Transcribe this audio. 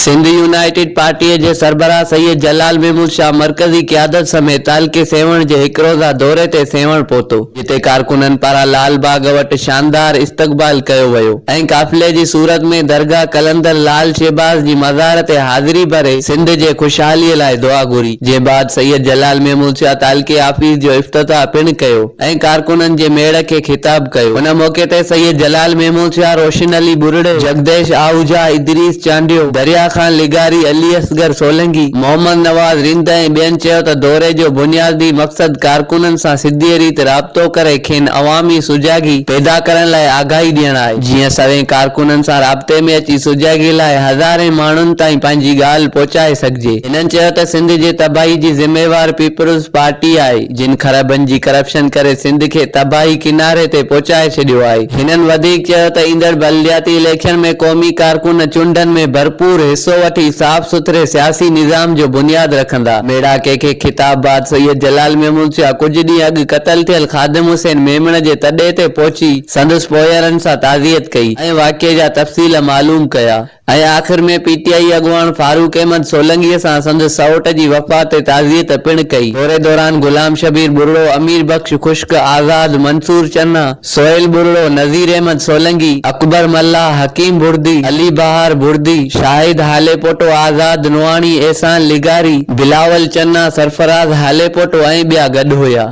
Sindh United پارٽيء جي سربراهه سيد جلال محمود شاهه مرڪزي قيادت سميت تعلقي سيوهڻ جي هڪ روزه دوري تي سيوهڻ پهتو، جتي ڪارڪنن پاران لال باغ وٽ شاندار استقبال ڪيو ويو ۽ قافلي جي صورت ۾ درگاهه قلندر لال شهباز جي مزار تي حاضري ڀري سنڌ جي خوشحاليء لاء دعا گهري، جنهن بعد سيد جلال محمود شاهه تعلقي آفيس جو افتتاح پڻ ڪيو. ۽ ڪارڪنن جي ميڙ کي خطاب ڪيو. ان موقعي تي سيد جلال ميمونشاهه، روشن علي ٻرڙي، جڳديش آهوجا، ادريس چانڊيو، دريا خان لغاري، علي اصغر سولنگي، محمد نواز رند ۽ ٻين چيو ته دوري جو بنيادي مقصد ڪارڪنن سان سڌيء ريت رابطو ڪري کين عوامي سجاڳي پيدا ڪرڻ لاء آگاهي ڏيڻ آهي، جيئن سوين ڪارڪنن سان رابطي ۾ اچي سجاڳي لاء هزارين ماڻهن تائين پنهنجي ڳالهه پهچائي سگهجي. هنن چيو ته سنڌ جي تباهي جي ذميوار پيپلز پارٽي آهي. جن خرابين جي ڪرپشن ڪري سنڌ کي تباهي ڪناري تي پهچائي ڇڏيو آهي. هنن وڌيڪ چيو ته ايندڙ بلدياتي اليڪشن ۾ قومي ڪارڪن چونڊن ۾ ڀرپور حصو وٺي صاف سٿري سياسي نظام جو بنياد رکندا. ميڙاڪي کي خطاب بعد سيد جلال محمود شاهه ڪجهه ڏينهن اڳ قتل ٿيل خادم حسين ميمڻ جي تڏي تي پهچي سندس پوئيرن سان تعزيت ڪئي ۽ واقعي جا تفصيل معلوم ڪيا. ۽ آخر ۾ پي ٽي آئي اڳواڻ فاروق احمد سولنگيء سان سندس سئوٽ جي وفات تي تعزيت پڻ ڪئي. دوري دوران غلام شبير ٻرڙو، امير بخش خشڪ، آزاد، منصور چنا، سهيل ٻرڙو، نذير احمد سولنگي، اڪبر ملاح، حڪيم ڀڙدي، علي بهار ڀڙدي، شاهد هاليپوٽو، آزاد نوحاڻي، احسان لغاري، بلاول چنا، سرفراز هاليپوٽو ۽ ٻيا گڏ هيا.